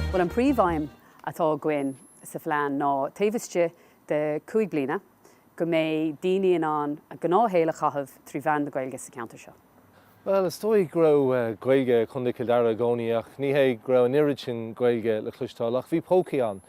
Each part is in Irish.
Bhuel an príomhaidhm atá againn sa phlean ná taobh istigh de cúig bliana go mbeidh daoine in ann a ngnáthshaol a chaitheamh trí mheán na Gaeilge sa cheantar seo. Bhuel, is dóigh go raibh Gaeilge i gContae Chill Dara i gcónaí ach ní hé go raibh an oiread sin Gaeilge le cloisteáil ach bhí pócaí ann.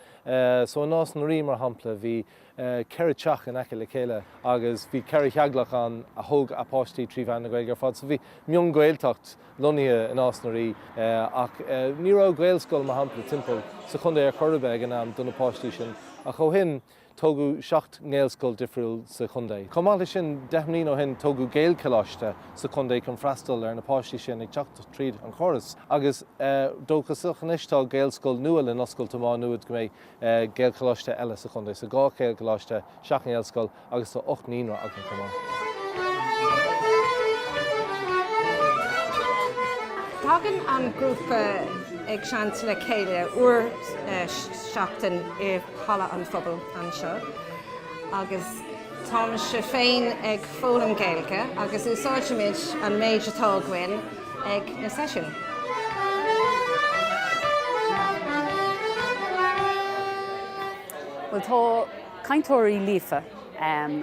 So i Nás na Rí, mar shampla, bhí ceithre teach in aice le chéile agus bhí ceithre theaghlach ann a thóg a bpáistí trí mheán na Gaeilge ar fad. So bhí mionGhaeltacht lonnaithe i Nás na Rí ach ní raibh Gaelscoil, mar shampla, timpeall sa chontae ar chor ar bith ag an am do na páistí sin ach ó shin, tógadh seacht nGaelscoil difriúil sa chontae. Chomh maith leis sin, deich mbliain ó shin tógadh Gaelcholáiste sa chontae chun freastal ar na páistí sin ag teacht tríd an chóras agus dóchasach anois tá Gaelscoil nua le n-oscailt i Má Nuad go mbeidh Gaelcholáiste eile sa chontae. So dhá Ghaelcholáiste, seacht nGaelscoil agus tá ocht naíonra againn chomh maith. Tagann an grúpa againn le chéile uair sa seachtain i. halla an phobail anseo agus táimse féin ag foghlaim Gaeilge agus úsáidimid an méid atá againn ag na seisiúin. Bhuel tá cainteoirí líofa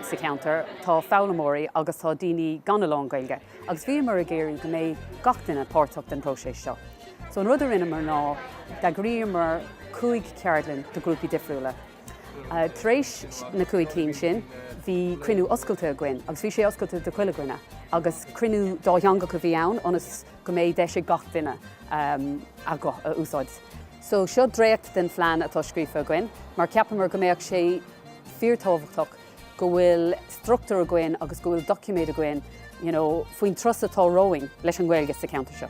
sa cheantar, tá foghlaimeoirí agus tá daoine gan a lán Gaeilge. agus bhíomar ag iarraidh go mbeidh gach duine páirteach den próiseas seo. So an rud a rinneamar ná d'eagraíomar cúig cheardlann do grúpaí difriúla. Tar éis na cúig cinn sin, bhí cruinniú oscailte againn, agus bhí sé oscailte do chuile dhuine, agus cruinniú dátheangach a bhí ann ionas go mbeidh deis ag gach duine ehm, a guth a úsáid. So seo dréacht den phlean atá scríofa againn, mar ceapamar go mbeadh sé fíortábhachtach go bhfuil struchtúr againn agus go bhfuil doiciméad againn you know faoin turas atá romhainn leis an nGaeilge sa cheantar seo.